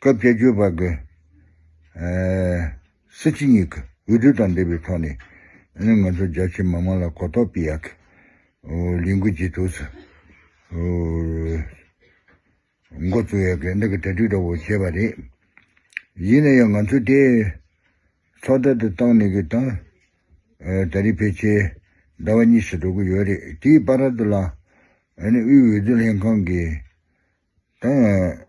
སྐབས་བཅོ་བརྒྱད་པ་དགུ། སྲིད་སྤྱི་གཉིས་ཀྱི་འོས་བསྡུ་དང་འབྲེལ་བའི་ཐོག་ནས་ང་ཚོ་རྒྱ་ཆེའི་མི་དམངས་ལ་གོ་རྟོགས་སྤེལ་ཡག་གི། ལས་འགུལ་ཇེ་ཐུགས་སུ་འགོ་བཙུགས་ཡག་གི་འདི་གི་གྲ་སྒྲིག་འདྲ་བོ་བྱས་པ་རེད། ཡིན་ན་ཡང་ང་ཚོས་དེ་ཚོགས་སྡེ་དུ་བཏང་ནས་གི་དང་ད་རེས་ཕལ་ཆེར་ཟླ་བ་གཉིས་སུ་འགྲོ་གི་ཡོད་རེད་དེའི་བར་དུ་ལ་དབུས་འོས་བསྡུ་ལྷན་ཁང་གི་དང།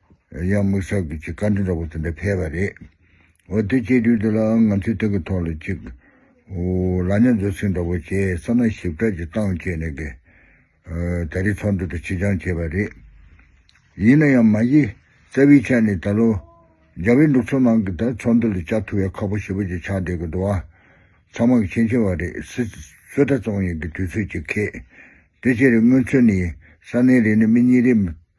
ཡང་དམིགས་བསལ་གྱི་ཆེད་བཀའ་དྲིན་རག་པ་ཙམ་པས་ཕེབས་པ་རེད། འོ་དེ་བཅས་དུས་འདི་ལའང་ང་ཚོས་དེ་གི་ཐོག་ལ་ཅིག། ལ་ཉམས་རྫོགས་ཚིག་འདྲ་པོ་བྱས་ས་ན་ཞིབ་ཕྲ་ཅིག་བཏང་བཅས་ནས་གི། ད་རེས་ཚོགས་འདུ་དེ་ཕྱི་འགྱང་བྱས་པ་རེད། ཡིན་ན་ཡང་མ་གཞི་རྩ་བའི་ཆ་ནས་ད་ལོ། རྒྱ་བལ་འབྲུག་ཚོ་ནང་གི་ད་ཚོགས་འདུ་ལ་བཅར་ཐུབ་ཡག་ཁག་པོ་ཞེ་པོ་ཅིག་ཆགས་བསྡད་གི་འདུག་ཨ། ཚང་མ་གི་མཁྱེན་ཆེ་བ་རེད་སི། བསོད་གྲྭ་བཙོང་ཡིན་གི་དུས་ཚོད་ཅིག་ཁེད། དེ་ཕྱིར་དངོས་མཚོན་ནི་ས་གནས་རེ་ནས་མི་གཉིས་རེ།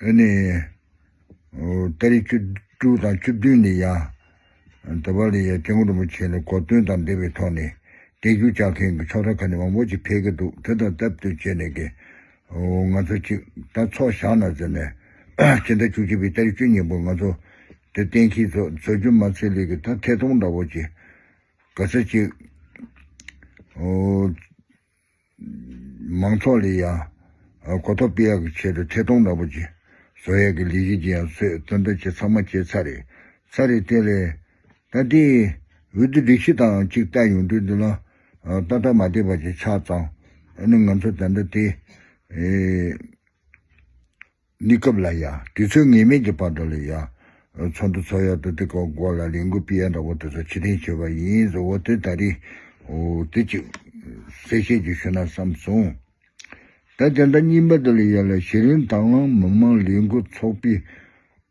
ནི། ཏཱ་རེ་བཅུ་དྲུག་དང་བཅུ་བདུན་ནི་ཡང་ད་བར་ལས་ཀྱང་སྐྱེ་དངོས་རིན་པོ་ཆེ་ལ་གོ་སྟོན་དང་འབྲེལ་བའི་ཐོག་ནས་འདེགས་སྐྱོར་བྱ་མཁན་གྱི་ཚོགས་སྡེ་ཁག་ནི་མང་པོ་ཞིག་འཕེལ་གྱི་འདུག་དེ་དང་སྟབས་བསྟུན་བྱས་ནས་ཀྱི། ང་ཚོ་གཅིག་ད་ཚོགས་བཞག་ན་ཟེར་ནས། སྤྱི་ཟླ་བཅུ་གཅིག་པའི་ཏཱ་རེ་བཅུ་གཉིས་པོར་ང་ཚོ་དེ་གཏན་འཁེལ་ཚོགས་གཙོ་རྒྱུ་མ་ཚེ་ལེགས་ཀྱིས་ད་ཐད་གཏོང་འདྲ་བོ་ཅི་དགའ་ས་ཅིག། མང་ཚོགས་ལ་ཡང་གོ་རྟོགས་སྤེལ་ཡག་གི་ཆེད་དུ་ཐད་གཏོང་ནག་པོ་བྱས། བཟོ་ཡག་གི་ལས་གཞི་ཅི་ཡང་བཟོས་བཙོན་དོན་བྱེད་ཚང་མ་བྱས་ཚར་རེད་ཚར་རེད་བལྟས། ལས་ད་ལྟའི་འོས་བསྡུ་སྒྲིག་གཞི་དང་གཅིག་བལྟས་ཡོང་དུས་འདི་ལ་ཏག་ཏག་མ་བལྟས་པ་ཅིག་ཆགས་ཙང་ཨ་ནི་ང་ཚོ་ད་ལྟ་དེ། གནས་སྐབས་ལ་ཡང་དུས་ཚོད་ངེས་མེད་ཀྱི་བར་དོ་ལ་ཡང། ཚོགས་འདུ་ཚོགས་ཡག་ཏུ་དེ་གོ་དགོས་ལ་ལས་འགུལ་སྤེལ་ཡག་འདྲ་བོ་དེ་ཚོ་ཕྱིར་འཐེན་བྱེད་པ་ཡིན་བཟོ་བོ་དེ་ད་རིང། དེ་ཅིག། གསལ་བཤད་ཅིག་ཞུ་ན་བསམ་སོང། ད་དེ་འདྲ་གཉིས་པ་དེ་ལ་ཡོད་ལ་གཞི་རིམ་དང་མི་མང་ལས་འགུལ་ཚོགས་པའི་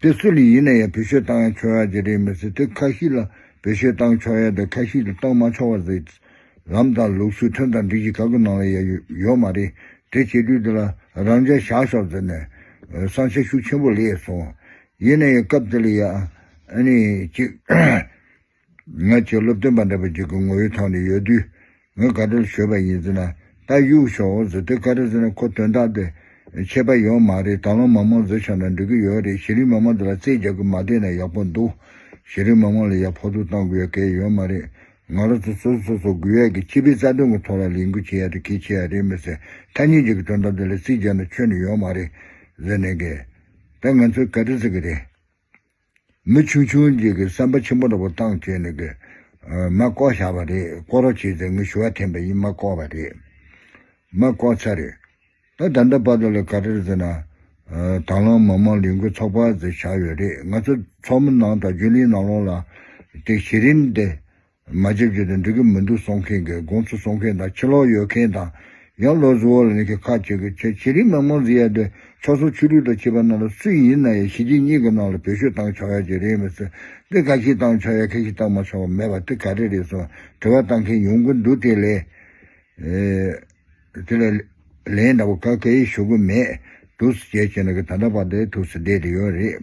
དེ་སུ་ལ་ཡིན་ན་ཡང་བེད་སྤྱོད་བཏང་ཡང་ཆོག་ཡག་གི་རེད་མི་ཚེ་དུས་ཁ་ཤིག་ལ་བེད་སྤྱོད་བཏང་ཆོག་ཡག་དུས་ཁ་ཤིག་ལ་བཏང་མ་ཆོག་བ་རེད། ལམ་དང་ལུགས་སྲོལ་ཁྲིམས་དང་སྒྲིག་གཞི་ག་གི་ནང་ལ་ཡང་ཡོད་མ་རེད་དེ་བྱེད་དུས་དེ་ལ་རང་འཇགས་བཞག་ཆོག་ཟེར་ནས་བསམ་ཤ་ཤུགས་ཆེན་པོ་ལས་སོང། ཡིན་ན་ཡང་སྐབས་དེ་ལ་ཡག་ཨ་ནི་ཅིག། ང་ཁྱོད་སློབ་སྟོན་པ་འདྲ་པོ་ཅིག་གི་ངོ་ཡོད་ཐོག་ནས་ཡོད་དུས་ངས་དགའ་སྤྲོར་བཞོས་པ་ཡིན་ཟེར་ན་ད་གཡུག་ཞོག་ཟེར་དུས་ཁ་བྲལ་ཟེར་ན་ཁོ་དོན་དག་དེ་ཆད་པ་ཡོད་མ་རེད་ད་ལོ་མ་མང་བཟོ་ཆོག་ན་འགྲིག་གི་ཡོད་རེད་གཞི་རིམ་མ་མང་དེ་ལ་རྩིས་རྒྱག་གི་མ་བསྡད་ན་ཡག་པོ་འདུག་གཞི་རིམ་མ་མང་ལ་ཡག་ཕོག་ཐུག་བཏང་དགོས་ཡ་གལ་ཡོད་མ་རེད་ང་རོ་ཚོ་སོ་སོ་སོ་སོ་དགོས་ཡ་གི་སྤྱི་པའི་རྩ་དོན་གི་ཐོག་ལ་ལས་འགུལ་བྱེད་ཡ་རེད་གལ་ཆེ་ཡ་རེད་མི་སེར་ཐ་སྙད་ཅིག་གི་དོན་དག་དེ་ལ་རྩིས་རྒྱག་ན་ཆོས་ནི་ཡོད་མ་རེད་ཟེར་ནས་གས། ད་ང་ཚོས་ག་རེ་ཟེར་གི་རེད། མི་ཆུང་ཆུང་ཅིག་གིས་བསམ་པ་ཆེན་པོ་འདྲ་པོ་བཏང་བྱས་ནས་ཀྱི། མ་བསྐོར་བཞག་པ་རེད་བསྐོར་རོགས་བྱས་ཚེ་ངས་ཞུ་བ་འཐེན་པ་ཡིན་མ་བསྐོར་བ་རེད། མ་བསྐོར་ཚར་རེད། ད་ད་འདྲ་པར་དུ་ལ་ག་རེར་ཟེར་ན། དང་བླངས་མི་མང་ལས་འགུལ་ཚོགས་པ་ཟེར་བཞག་ཡོད་རེད་ང་ཚོ་ཚོགས་མི་ནང་དང་རྒྱུན་ལས་ནང་ལོགས་ལ། དེ་གཞི་རིམ་དེ། མ་བྱེད་བྱེད་དུ་འགྲོ་གི་མི་འདུག་སོང་མཁན་གི་དགོངས་ཚུལ་སོང་མཁན་དང་ཕྱི་ལོག་ཡོད་མཁན་དང། ཡང་ལོ་གཟུ་བོ་ལ་ནི་གི་ཁ་བྱེད་གི་ཆེ་བྱེད་རིགས་མང་མང་ཟིག་ཡ་དེ་ཕྱོགས་སོ་ཆུ་རུད་དང་བྱེད་པ་རྣམས་ལ་སུ་ཡིན་ན་ཡང་གཞི་གཅིག་གཉིས་གི་ནང་ལ་བེད་སྤྱོད་བཏང་ཆོག་ཡ་གཅིག་རེད་མི་སྲིད་དེ་ག་ཞིག་བཏང་ཆོག་ཡ་ག་ཞིག་བཏང་མ་ཆོག་པ་མེད་པ་དེ་ག་རེ་རེད་སོང་དྲི་བ་བཏང་མཁན་ཡོང་གི་འདུག་དེ་ལས་དེ་ལས་ལན་འདྲ་པོ་ག་ག་ཞིག་ཞུ་གི་མེད་འདུག་སུ་བྱེད་བྱེད་ན་གི་ད་ལྟ་བར་དེ་ཐུགས་སུ་བསྡད་དེ་ཡོད་རེད།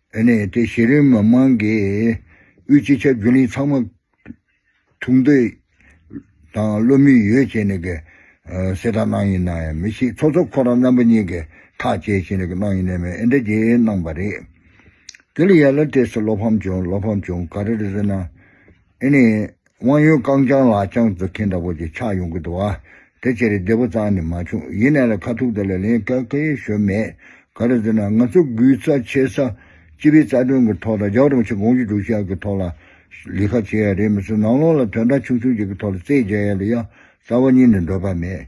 དེ་ནས་དེ་གཞི་རིམ་མི་མང་གིས་དབུས་སྤྱི་ཁྱབ་རྒྱུན་ལས་ཚང་མ་ཐུག་འདོད་དང་བློ་མོས་ཡོད་བྱས་ནས་གསལ་བསྒྲགས་གནང་ཡིན་ནའང་མི་ཤེས་ཚོགས་གཙོ་ཁོ་རང་རྣམ་པ་གཉིས་ཀྱིས་ཐག་བཅད་བྱས་ནས་གནང་ཡིན་ནའི་མེད་ཨེ་འདྲ་བྱས་གནང་བ་རེད། དེ་ལ་ཡར་ལ་སྤྲད་སོ་བློ་ཕམ་བྱུང་བློ་ཕམ་བྱུང་ག་རེ་རེད་ཟེར་ན། དེ་ནི་དབང་ཡོན་རྐང་བརྐྱང་ལག་བརྐྱང་རྩ་ཁྱེར་འདྲ་བོ་ཅིག་ཆགས་ཡོང་གི་འདུག་བ། དེ་ཕྱིར་བདེ་པོ་ཙང་ནི་མ་བྱུང། ཡིན་ནའི་ལ་ཁ་ཐུག་དེ་ལ་ལན་སྐད་ཁ་ཡེ་ཤོས་མེད། ག་རེ་ཟེར་ན་ང་ཚོ་སྒུལ་རྩ་འཆལ་རྩ། སྤྱི་པའི་རྩ་དོན་གྱི་ཐོག་དང་རྒྱ་གྲོང་ཆེ་དགོངས་ཀྱི་སྒྲུབ་བྱ་གྱི་ཐོག་ལ། ལས་ཁ་བྱེད་ཡ་རེད་མི་སྲིད་ནང་ལོགས་ལ་དོན་དག་ཆུང་ཆུང་ཅིག་གི་ཐོག་ལ་རྩེད་རྒྱ་ཡ་ལ་ཡ། རྩ་བ་གཉིས་ནི་འདོད་པ་མེད།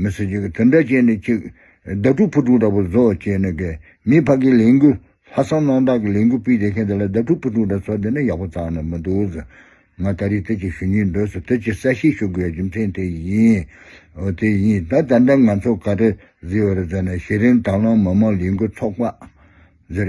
མི་སུ་གཅིག་གིས་དེ་འདྲ་བྱས་ནས་ཅིག། བདག་སྤྲུག་ཕུ་དྲུག་འདྲ་པོ་བཟོ་བྱས་ནས་དགེ། མིའི་བྷ་གའི་ལས་འགུལ། ལྷ་བསང་གནང་སྟངས་ཀྱི་ལས་འགུལ་སྤེལ་བསྡད་མཁན་དེ་ལ་བདག་སྤྲུག་ཕུ་དྲུག་འདྲ་བཟོ་བསྡད་ན་ཡག་པོ་ཙང་ན་མི་འདུག་ཟེར། ང་ད་རེས་དེ་ཅིག་ཞུ་ཉེན་འདུག་ཟེར་དེ་ཅིག་གསལ་བཤད་ཞུ་དགོས་ཡ་རྒྱུ་མཚན་དེ་ཡིན། འོ་དེ་ཡིན་ད་ད་འདྲ་ང་ཚོ་ག་རེ་ཟེར་བ་རེད་ཟེར་ན་གཞི་རིམ་དྭང་བླངས་མི་མང་ལས་འགུལ་ཚོགས་པ། ཟེར།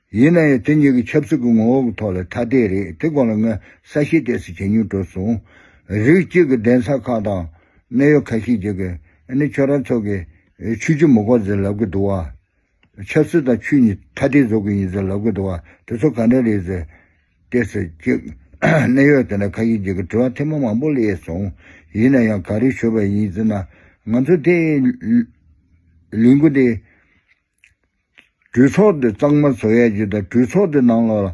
ཡིན་ན་ཡང་དེ་གཉིས་ཀྱི་ཆབ་སྲིད་ཀྱི་ངོ་བོ་གི་ཐོག་ལ་ཐ་དད་རེད་དེ་སྐོར་ལ་ངས་གསལ་བཤད་གཏད་སོ་བྱས་མྱོང་གྲོལ་སོང། རིགས་གཅིག་གི་གདན་ས་ཁག་དང་གནད་ཡོད་ཁ་ཤས་ཀྱིས་ཀྱི་ནི་ཁྱོད་རང་ཚོ་གིས་ཆོས་ཀྱི་མུ་ཁོག་ཟེར་ལབ་ཀྱི་འདུག་བ། ཆབ་སྲིད་དང་ཆོས་གཉིས་ཐ་དད་བཟོ་གི་ཡིན་ཟེར་ལབ་ཀྱི་འདུག་བ་དེ་ཚོ་ག་འདྲ་རེད་ཟེར་ཏེ་ཟེར་གྱི། གནད་ཡོད་དེ་འདྲ་ཁ་ཤས་ཀྱིས་ཀྱི་དྲི་བ་ཐེངས་མང་མང་པོ་ལས་སོང། ཡིན་ན་ཡང་ག་རེ་ཞུ་བ་ཡིན་ཟེར་ན་ང་ཚོ་དེ་ལུས་འགུལ་དེ། གྲོས་ཚོགས་དེ་གཙང་མ་བཟོ་ཡ་གཅིག་དང་གྲོས་ཚོགས་དེ་ནང་ལ་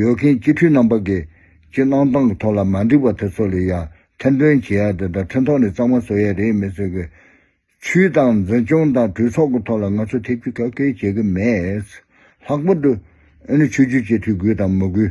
ཡོད་མཁན་སྤྱི་འཐུས་རྣམ་པ་གིས་ཀྱི་གནང་སྟངས་ཀྱི་ཐོག་ལ་མ་འགྲིག་པ་དེ་ཚོ་ལ་ཡང་ཐེར་འདོན་བྱེད་ཡ་དེ་དང་ཁྲིན་ཐོག་ནས་གཙང་མ་བཟོ་ཡ་རེད་མེད་ཚོད་ཀྱི། ཆུའི་དང་འཛིན་སྐྱོང་དང་གྲོས་ཚོགས་ཀྱི་ཐོག་ལ་ང་ཚོ་ཐེབས་རྒྱུ་ག་གེ་བྱེད་ཀྱི་མེད། ལྷག་པར་དུ། ཨེ་ནི་ཆོས་བརྒྱུད་སྤྱི་འཐུས་དགོས་དང་མི་དགོས།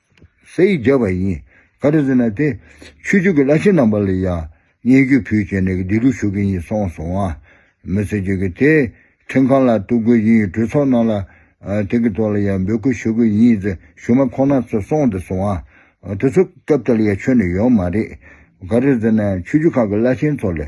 ས་ཡིག་བརྒྱབ་པ་ཡིན། ག་རེ་ཟེར་ན་དེ། ཆོས་ཕྱུག་གི་བླ་ཆེན་རྣམ་པ་ལ་ཡང། བརྙས་བཅོས་ཕུལ་བྱས་ནས་བདེ་ལུགས་ཞུ་གི་ཡིན་སོང་སོང་བ། མི་ཚེ་བརྗོད་ཀྱི་དེ། ཁྲིམས་ཁང་ལ་གཏུགས་དགོས་ཡིན་གྲོས་ཚོགས་ནང་ལ། དེ་གི་ཐོག་ལ་ཡང་འབོད་སྐུལ་ཞུ་གི་ཡིན་ཟེར་ཞུ་མ་ཁོ་ན་ཚོ་སོང་དེ་སོང་བ། དེ་ཚོ་སྐབས་དེ་ལ་ཡང་ཆོས་ནི་ཡོད་མ་རེད། ག་རེ་ཟེར་ན་ཆོས་ཕྱུག་ཁག་གི་བླ་ཆེན་ཚོ་ལས།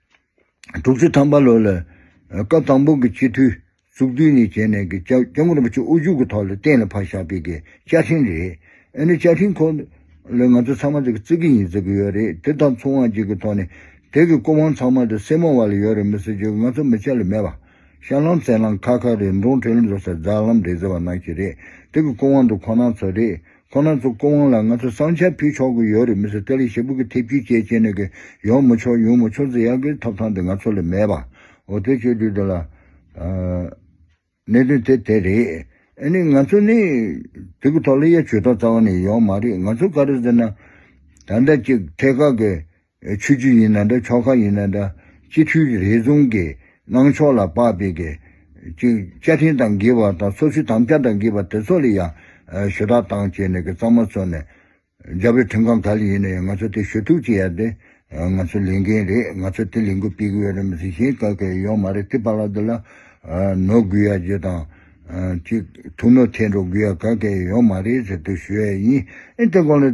དྲུག་ཅུ་ཐམ་པ་ལོ་ལ་སྐབས་དང་པོ་གི་སྤྱི་འཐུས་བཙུགས་དུས་ནས་བྱས་ནས་ཀྱི་སྐྱབས་རྒྱ་མགོན་རིན་པོ་ཆེ་དབུ་བཞུགས་ཀྱི་ཐོག་ལ་གཏན་ལ་ཕབ་བཞག་པའི་ཀྱི་བཅའ་ཁྲིམས་རེད། ཨེ་ནི་བཅའ་ཁྲིམས་ཁོ་ལ་ང་ཚོ་ཚང་མ་ཀྱི་བརྩི་གི་ཡིན་བརྩི་གི་ཡོད་རེད་དེ་དང་མཚུངས་དབང་ཅིག་གི་ཐོག་ནས་དེ་ཀྱི་སྐུ་དབང་ཚང་མ་དུ་སེར་མོ་བ་ལ་ཡོད་རེད་མི་སེར་ཅིག་ང་ཚོ་མི་ཆ་ལ་མེད་པ། ཤར་ལམ་རྩེ་ལམ་ཁ་ཁ་རེད་འབྲོང་གྲོས་ལམ་བཟོ་ས་རྫ་ལམ་རེད་ཟེར་བ་ནང་བཞིན་རེད་དེ་ཀྱི་སྐུ་དབང་དུ་ཁོ་ནང་ཚོ་རེད། ཁོ་ན་ཚོ་སྐུ་དབང་ལ་ང་ཚོ་བསང་ཆ་ཕུལ་ཆོག་གི་ཡོད་རེད་མི་སེར་ཏཱ་ལའི་ཞེ་ཕུག་གི་ཐེབས་ཀྱི་ཅེས་ཅེས་ནས་གི་ཡོང་མི་ཆོག་ཡོང་མི་ཆོག་ཟེར་ཡག་གི་ཐོབ་ཐང་དེ་ང་ཚོ་ལ་མེད་པ་འོ་དེ་ཆོས་དུས་དེ་ལ་གནད་དོན་དེ་དེ་རེད་ཨེ་ནི་ང་ཚོ་ནི་དེ་གི་ཐོག་ལ་ཡ་ཇུས་ཐོག་རྩ་བ་ནས་ཡོང་མ་རེད་ང་ཚོ་ག་རེ་ཟེར་ན་ད་ཟླ་གཅིག་ཐད་ཀ་གི་ཆོས་རྗེ་ཡིན་ན་འདྲ་ཕྱོགས་ཁག་ཡིན་ན་འདྲ་སྤྱི་འཐུས་རེ་ཟུང་གི་གནང་ཕྱོགས་ལ་དཔག་པའི་གི་ཅིག་བཅའ་ཁྲིམས་དང་འགལ་བ་དང་སོ་སོའི་དམ་བཅའ་དང་འགལ་བ་དེ་ཚོ་ལ་ཡང་ཞུ་དག་བཏང་བྱས་ནས་གི་གཙང་མ་ཚོ་ནས་རྒྱ་བོད་ཁྲིམས་ཁང་ག་ལ་ཡིན་ན་ཡང་ང་ཚོ་དེ་ཞུ་གཏུག་བྱེད་ཡ་དེ་ང་ཚོ་ལས་འགན་རེད་ང་ཚོ་དེ་ལས་འགུལ་སྤེལ་གི་ཡོད་རེད་མི་སྲིད་གཞན་ག་གི་ཡོད་མ་རེད་དེ་བ་ལ་དེ་ལ་ནོར་དགོས་ཡ་རྒྱུ་དང་ཅིག་ཐུགས་ནོར་ཐེད་འགྲོ་དགོས་ཡ་ག་གི་ཡོད་མ་རེད་ཟེར་དུ་ཞུ་ཡ་ཡིན་ཨེ་དེ་སྐོར་ལ།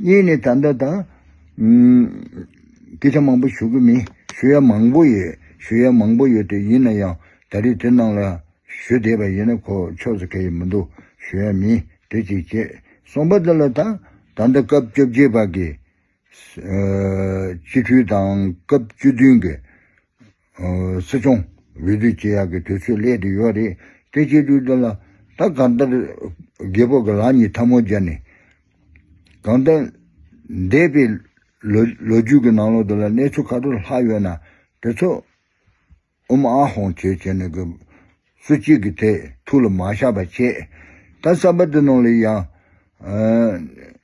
གཉིས་ནི་ད་ལྟ་དང། སྐད་ཆ་མང་པོ་ཞུ་གི་མིན། ཞུ་ཡ་མང་པོ་ཡོད། ཞུ་ཡ་མང་པོ་ཡོད་དེ་ཡིན་ན་ཡང་ད་རེས་དེ་རྣམས་ལ་ཞུ་བསྡད་པ་ཡིན་ན་ཁོ་ཕྱོགས་སུ་ག་ཡི་མི་འདུག་ཞུ་ཡ་མིན་དེ་གཅིག་བྱས་སོང་པ་འདི་ལ་ད་ད་ལྟ་སྐབས་བཅོ་བརྒྱད་པ་གི། སྤྱི་འཐུས་དང་སྐབས་བཅུ་བདུན་གི། སྲིད་སྐྱོང་འོས་བསྡུ་བྱེད་ཡག་གི་དུས་ཚོད་སླེབས་དུས་ཡོད་རེད་དེ་སྤྱི་འཐུས་དེ་ལ་ད་གང་ལྟར་རྒད་པོ་གི་ལག་གཉིས་འཐབ་མོ་སྦྱར་ནས་གང་ལྟར་འདས་པའི་ལོ་རྒྱུས་ཀྱི་ནང་ལོག་དེ་ལ་གནས་ཚུལ་ཁ་སྤྲོད་ལྷག་ཡོད་ན་དེ་ཚོ་ཨུམ་ཨ་ཧོང་བྱེད་བྱེད་ནས་གི་སུ་གཅིག་གི་ཐད་ཐུགས་ལ་མ་བཞག་པ་བྱེད་ད་གསར་པ་དེ་ནང་ལ་ཡང་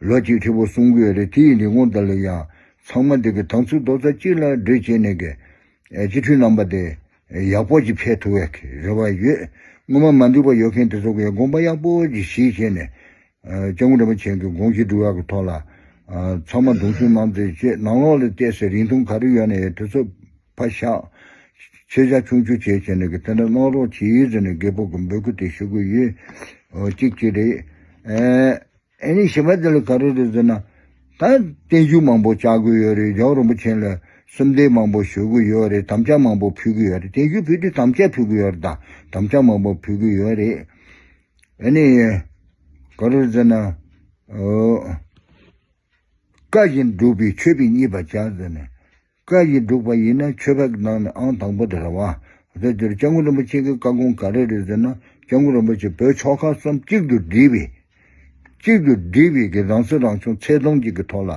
ལོ་གཅིག་ཧྲིལ་བོ་སྲུང་གི་རེད་དེ་ཡིན་དུས་སྔོན་དང་ལོས་ཡང་ཚང་མ་འདི་གི་དང་ཚུལ་རྡོག་རྩ་གཅིག་ལ་སྒྲིལ་བྱས་ནས་གི་སྤྱི་འཐུས་རྣམ་པ་དེ་ཡག་པོ་ཅིག་ཕེབས་ཐུབ་བའི་གི་རེ་བ་ཡོད་སྔོན་མ་མ་འདུས་པ་ཡོད་མཁན་དེ་ཚོ་གི་དགོངས་པ་ཡག་པོ་ཅིག་གཞིས་བྱས་ནས་སྐྱབས་མགོན་རིན་པོ་ཆེན་གི་དགོངས་གཞི་འགྲུལ་བ་གི་ཐོག་ལ་ཚང་མ་གདུང་སེམས་གནང་ཚེ་ཆེས་ནང་ལོག་ལ་བལྟས་ཚེ་རིང་ཐུང་ག་རེ་ཡོད་ན་ཡོད་དེ་ཚོ་ཕ་ཤགས་ཆེ་ཤགས་ཆུང་ཆུང་བྱས་བྱས་ནས་གི་དེ་འདྲ་གནང་རོགས་བྱེད་ཡུལ་ཟེར་ནས་རྒད་པོ་གི་འབོད་སྐུལ་དེ་ཞུ་གི་ཡོད་ཅིག་ཅིག་རེད། ཨེ་ནི་ཞེས་པ་འདི་ལ་ག་རེ་རེད་ཟེར་ན། ད་བརྟན་བཞུགས་མང་པོ་བྱ་དགོས་ཡོད་རེད་རྗེ་བོ་རིན་པོ་ཆེན་ལ་སུམ་ལྡེག་མང་པོ་ཞུ་གི་ཡོད་རེད་དམ་བཅའ་མང་པོ་ཕུལ་གི་ཡོད་རེད་བརྟན་བཞུགས་ཕུལ་དུས་དམ་བཅའ་ཕུལ་གི་ཡོད་རེད་ད་དམ་བཅའ་མང་པོ་ཕུལ་གི་ཡོད་རེད། ཨེ་ནི། ག་རེ་རེད་ཟེར་ན། བཀའ་བཞིན་སྒྲུབ་པའི་ཆོས་པའི་གཉིས་པ་བྱ་ཟེར་ནས། བཀའ་བཞིན་བསྒྲུབ་པ་ཡིན་ན་ཆོས་བརྒྱུད་ནང་ནས་ཨང་དང་པོ་དེ་རེད་བ། དེ་དེར་སྐྱབས་མགོན་རིན་པོ་ཆེ་གི་བཀའ་དགོངས་ག་རེ་རེད་ཟེར་ན་སྐྱབས་མགོན་རིན་པོ་ཆེ་བོད་ཕྱོགས་ཁག་གསུམ་གཅིག་ཏུ་སྒྲིལ་བའི། གཅིག་ཏུ་སྒྲིལ་བའི་གི་རང་སྲིད་རང་སྐྱོང་ཚད་དུང་ཅིག་གི་ཐོག་ལ།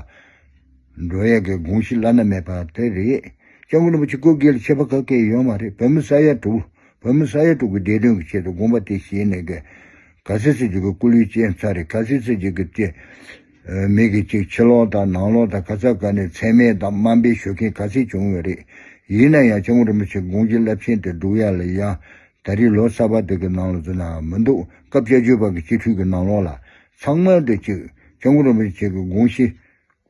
འགྲོ་ཡག་གི་དགོངས་གཞི་བླ་ན་མེད་པ་དེ་རེད། སྐྱབས་མགོན་རིན་པོ་ཆེ་སྐུ་སྒེར་ཆད་པ་ག་གེ་ཡོད་མ་རེད་བོད་མི་ས་ཡ་དྲུག་བོད་མི་ས་ཡ་དྲུག་གི་བདེ་དོན་གི་ཆེད་དུ་དགོངས་པ་དེ་བཞེས་ནས་ག་ག་སེ་སེ་ཅིག་གི་སྐུ་ལུས་བསྐྱེལ་ཚར་རེད་ག་སེ་སེ་ཅིག་གི་བསྐྱེལ། མིག་གིས་ཅིག་ཕྱི་ལོག་དང་ནང་ལོག་དང་ཁ་ཚ་དགའ་ནས་ཚད་མེད་དང་དམའ་འབེབས་ཞུ་མཁན་ག་ཚད་བྱུང་བས་རེད། ཡིན་ན་ཡང་ལྕགས་མོ་རིན་པོ་ཆེ་དགུང་ལྕི་རླབས་ཆེན་དེ་འབྲུག་ཡར་ལ་ཡར། ད་རེས་ལོ་གསར་པ་དེ་གི་ནང་ལ་འཛུལ་ནའང་མི་འདུག་སྐབས་དཔྱད་བརྗོད་པ་གི་སྤྱི་འཐུས་ཀི་ནང་ལོག་ལ། ཚང་མལ་དུ་ཅིག་ལྕགས་མོ་རིན་པོ་ཆེ་གི་དགུང་ཞི།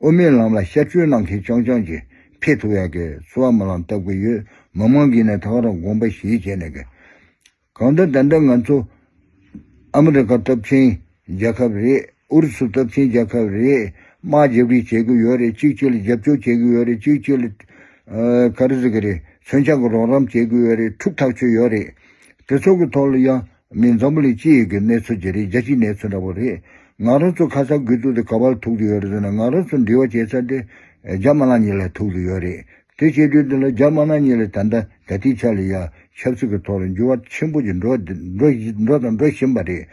དབུ་མའི་ལམ་ལ་ཤར་བསྐྱོད་གནང་མཁན་རྐྱང་རྐྱང་གི་ཕེ་ཐུ་ཡ་གི་ཚུ་བ་མི་ལང་བཏབ་གི་ཡོད་མི་མང་གིས་ནས་ཐག་རང་དགོངས་པ་བཞིན་བྱས་ནས་གི། གང་ལྟར་ད་ལྟ་ང་ཚོ་ཨ་མི་རི་ཀ་སྟོབས་ཆེན་རྒྱལ་ཁབ་རེད་ཨུ་རུ་སུ་སྟོབས་ཆེན་རྒྱལ་ཁབ་རེད་དམག་རྒྱག་རེས་བྱེད་གི་ཡོད་རེད་གཅིག་གཅིག་ལ་རྒྱབ་སྐྱོར་བྱེད་གི་ཡོད་རེད་གཅིག་གཅིག་ལ་ཀ་རེ་ཟེར་གི་རེད་མཚོན་ཆ་གི་རོགས་རམ་བྱེད་གི་ཡོད་རེད་འཁྲུག་ཐག་ཆོད་ཡོད་རེད། དེ་ཚོ་གི་ཐོག་ལ་ཡ་མི་འཛམ་བུ་ལས་སྤྱི་ཡི་གི་གནས་ཚུལ་དེ་རེད་རྒྱལ་སྤྱིའི་གནས་ཚུལ་འདྲ་བོ་རེད་ང་རང་ཚོ་ཁ་སང་དགོས་གཏུག་དེ་ག་བ་ལ་ཐུག་གི་ཡོད་རེད་ཟེར་ན་ང་རང་ཚོ་འདྲི་བ་བྱེད་ས་དེ་རྒྱ་དམར་ལངས་ཉིན་ལ་ཐུག་གི་ཡོད་རེད་དེ་བྱེད་དུས་འདི་ལ་རྒྱ་དམར་ནག་གཉིས་ལ་ད་ལྟ་ད་ལྟའི་ཆ་ལ་ཡང་ཆབ་སྲིད་ཀྱི་ཐོག་ལ་འགྱུར་བ་ཆེན་པོ་ཞིག་འགྲོ་འགྲོ་དང་འགྲོ་བཞིན་པ་རེད།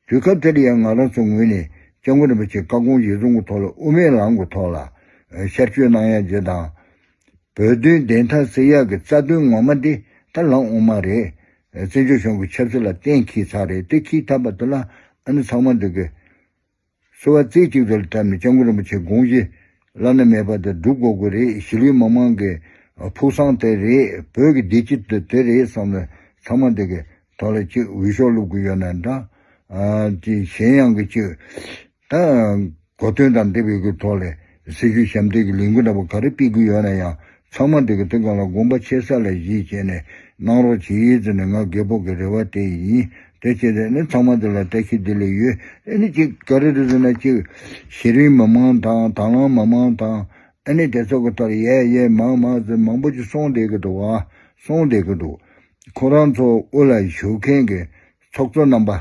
དུས་སྐབས་དེར་ཡང་ང་རང་ཚོའི་ངོས་ནས ྋསྐྱབས་མགོན་རིན་པོ་ཆེས་བཀའ་དགོངས་ཡིག་ཚང་གི་ཐོག་ལ་དབུ་མའི་ལམ་གྱི་ཐོག་ལ་ཤར་བསྐྱོད་གནང་ཡ་རྗེས་དང། བོད་དོན་བདེན་མཐའ་སེལ་ཡག་གི་རྩ་དོན་ངོ་མ་འདི་ད་ལམ་དབུ་མ་རེད། བཙན་བྱོལ་གཞུང་གི་ཆབ་སྲིད་ལ་གཏན་འཁེལ་ཚར་རེད་དེ་ཁེལ་ཐབས་པ་དེ་ལ་ཨ་ནི་ཚང་མ་འདི་གི། གསོལ་བ་རྩེ་གཅིག་ཏུ་བཀྲམ་ནས་སྤྱང་ཀུ་རིན་པོ་ཆེ་དགོངས་བཞེས་བླ་ན་མེད་པ་དང་སྒྲུབ་དགོས་དགོས་རེད་གཞིས་ལུས་མང་མང་གི་ཕུགས་བསམ་དེ་རེད་བོད་ཀྱི་བདེ་སྐྱིད་དེ་དེ་རེད་བསམ་ནས་ཚང་མ་འདི་གི་ཐོག་ལ་གཅིག་འུད་ཤོག་བླུག་གི་ཡོད་ན་འདྲ། གཞན་ཡང་གི་གཅིག་གོ་དོན་དང་འདི་བོད་ཀྱི་ཐོག་ལས། སྲི་ཞུ་ཞབས་འདེགས་ཀྱི་ལས་འགུལ་འདྲ་པོ་ག་རེ་སྤེལ་གི་ཡོད་ན་ཡང་ཚང་མ་འགྲིག་གི་འདུག་གང་ལ་དགོངས་པ་ཆེ་ས་ལ་གཞིས་བྱས་ནས་གནང་རོགས་བྱེད་ཡིན་ཟེར་ནས་ང་རྒས་སྤོགས་ཀྱི་རེ་བ་དེ་ཡིན་དེ་བྱས་ཚེ་ནི་ཚང་མ་འདི་ལ་བཀྲ་ཤིས་བདེ་ལེགས་ཡོད་ཨེ་ནི་གཅིག་ག་རེ་རེད་ཟེར་ན་གཅིག་གཞི་རིམ་མི་མང་དང་དང་བླངས་མི་མང་དང་ཨེ་ནི་དེ་ཚོ་གི་ཐོག་ལ་ཡས་ཡས་མ་མ་ཟེར་མང་པོ་ཅིག་སོང་བསྡད་གི་འདུག་བ་སོང་བསྡད་གི་འདུག་ཁོ་རང་ཚོ་དབུ་ལ་བཞུགས་མཁན་གྱི་ཚོགས་གཙོ་རྣམ་པ།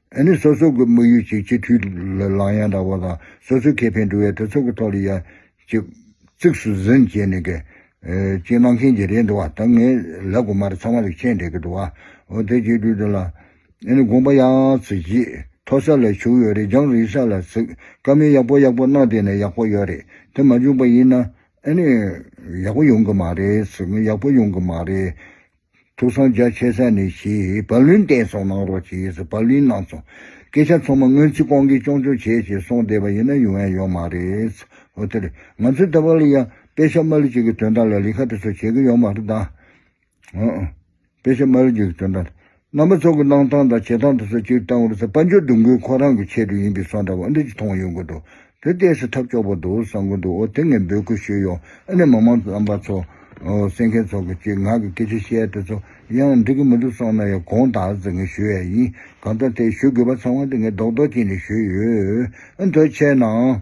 ཨ་ནི་སོ་སོ་གི་དམིགས་ཡུལ་གཅིག་སྤྱི་འཐུས་ལང་ཡང་འདྲ་བོ་དང་སོ་སོའི་ཁེ་ཕན་སྒྲུབ་ཡ་གྲོས་ཚོགས་ཀྱི་ཐོག་ལ་ཡ་གཅིག་གཙིགས་སུ་ཟིན་བྱས་ནས་གི་གཅིག་གནང་མཁན་གྱི་རེད་འདུག་བ་ད་ངས་ལབ་དགོས་མ་རེད་ཚང་མ་ལེགས་ཆའི་འགྲེལ་གི་འདུག་བ་འོ་དེ་གཅིག་སྒྲུས་འདི་ལ་ཨ་ནི་དགོངས་པ་ཡང་ཚིག་གཅིག་མཐོ་ས་ལ་བྱུགས་ཡོད་རེད་རྒྱང་རིང་ས་ལ་ཚིག་དཀའ་མིན་ཡག་པོ་ཡག་པོ་གནང་བསྡད་ན་ཡག་པོ་ཡོད་རེད་དེ་མ་བྱུང་པ་ཡིན་ན་ཨ་ནི་ཡག་པོ་ཡོང་གི་མ་རེད་ཡག་པོ་ཡོང་གི་མ་རེད། ཐུགས་སངས་རྒྱ་ཆེ་ས་ནས་ཞེས་བབ་བླུན་བསྟན་སོང་གནང་རོགས་ཞེས་སུ་བབ་བླུན་གནང་སོང། སྐད་ཆ་ཚང་མ་སྔོན་ཚིག་ཀོང་གིས་ཅོང་ཅོང་བྱས་ཞེས་གསུངས་བསྡད་པ་ཡིན་ན་ཡོང་ཡ་ཡོད་མ་རེད། ཨོ་དེ་རེད། ང་ཚོའི་ད་བར་ལ་ཡང་དཔེ་ཆ་མ་ལུས་གཅིག་གི་དོན་དག་ལ་ལི་ཁ་དེ་ཚོ་བྱེད་ཀྱི་ཡོད་མ་རེད་ད། ཨོ་ཨོ། དཔེ་ཆ་མ་ལུས་གཅིག་གི་དོན་དག་དང། རྣམ་པ་ཚོགས་ཀྱི་གནང་སྟངས་དང་བྱེད་སྟངས་དེ་ཚོ་གཅིག་བཏང་བར་ཚེ་དཔལ་འབྱོར་སྡུག་འགུལ་ཁོ་རང་གི་ཆེད་དུ་ཡིན་པའི་སོགས་འདྲ་བ་འུ་འདྲ་ཅིག་མཐོང་ཡོང་གི་འདུག་བོད་སྐད་སུ་ཐབས་སྐྱོ་པོ་འདུག་བསམ་གི་འདུག་ཨོ་དེ་ངས་འབོད་སྐུལ་ཞུས་ཡོང་ཨ་ནི་མི་མང་རྣམ་པ་ཚོ་གསན་མཁན་ཚོ་གི་ཅིག་ངག་གི་སྐད་ཆ་བཤད་དེ་ཚོ་ཡང་འགྲིག་གི་མི་འདུག་སོང་ན་ཡང་དགོངས་དག་ཟིག་ངས་ཞུ་ཡས་ཡིན་གང་ལྟར་དེ་ཞུ་དགོས་པ་ཚང་མ་དེ་ངས་རྡོག་རྡོག་ཅིག་ནས་ཞུས་ཡོད་ཨ་མདོ་ཆེ་ནའང།